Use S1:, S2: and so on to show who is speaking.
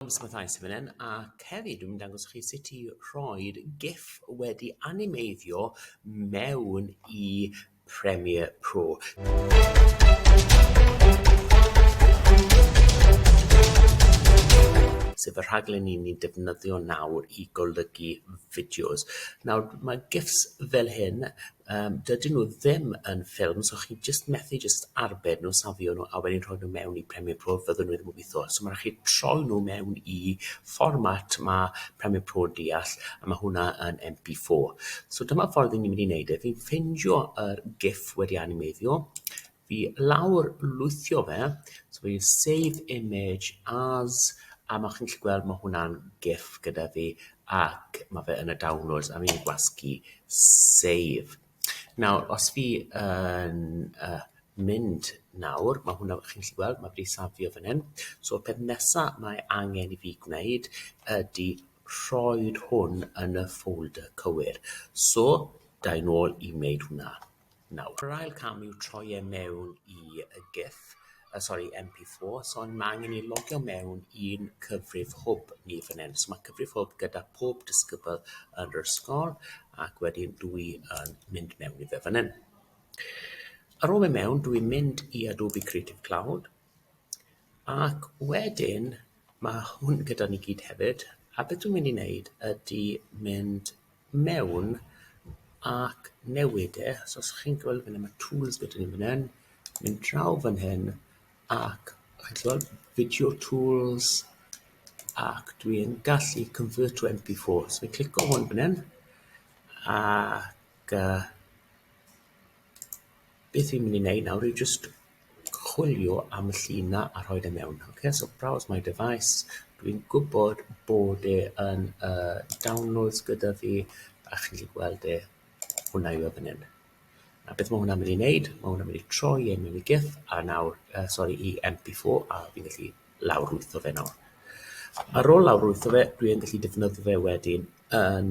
S1: Ysbytai sydd fan hyn ac hefyd dwi'n mynd i dangos i chi sut i rhoi'r GIF wedi animeiddio mewn i Premiere Pro. sef y rhaglen ni'n ni'n defnyddio nawr i golygu fideos. Nawr, mae GIFs fel hyn Yym dydyn nhw ddim yn ffilm so chi jyst methu jyst arbed nhw, safio nhw a wedyn rhoi nhw mewn i Premiere Pro fyddwn nhw ddim yn gweitho. So ma' rai' chi troi nhw mewn i fformat ma' Premiere Pro yn deall a ma' hwnna yn em pee four. So dyma ffordd 'yn ni mynd i neud e fi'n ffindio yr giff wedi animeiddio Fi lawr lwythio fe so fi'n save image as a ma' chi'n gallu gweld ma' hwnna'n gif gyda fi ac ma' fe yn y downloads a fi'n gwasgu save. Nawr os fi yn yy mynd nawr ma' hwnna chi'n gallu gweld ma' wedi safio fan hyn so'r peth nesa mae angen i fi gwneud ydi rhoid hwn yn y folder cywir so da i nôl i wneud hwnna. Nawr, yr ail cam yw troi e mewn i y GIF, uh, sorry, MP4, so mae angen i logio mewn i'n cyfrif hwb ni fan hyn. So mae cyfrif hwb gyda pob disgybl yn yr ysgol, ac wedyn dwi yn mynd mewn i fe fan hyn. Ar ôl mynd mewn, dwi'n mynd i Adobe Creative Cloud, Ac wedyn ma' hwn gyda ni gyd hefyd a be' dwi'n mynd i neud ydi mynd mewn ac newid e so os chi'n gwel' fyn 'na ma' tools gyda ni fyn 'yn, mynd draw fan hyn ac chi'n gwel' video tools ac dwi yn gallu convert to em pee four so fi'n clico hwn fyn 'yn ac yy Beth fi'n mynd i wneud nawr yw jyst chwilio am y llun 'na a rhoi fe mewn. Ocê, so browse my device. Dwi'n gwybod bod e yn y downloads gyda fi, a chi'n gallu gweld e, hwnna yw e fan hyn. A beth mae hwnna'n mynd i wneud? Mae hwnna'n mynd i troi e mewn i GIF, a nawr, uh, sori, i MP4, a fi'n gallu lawrlwytho fe nawr. Ar ôl lawrlwytho fe, dwi'n gallu defnyddio fe wedyn yn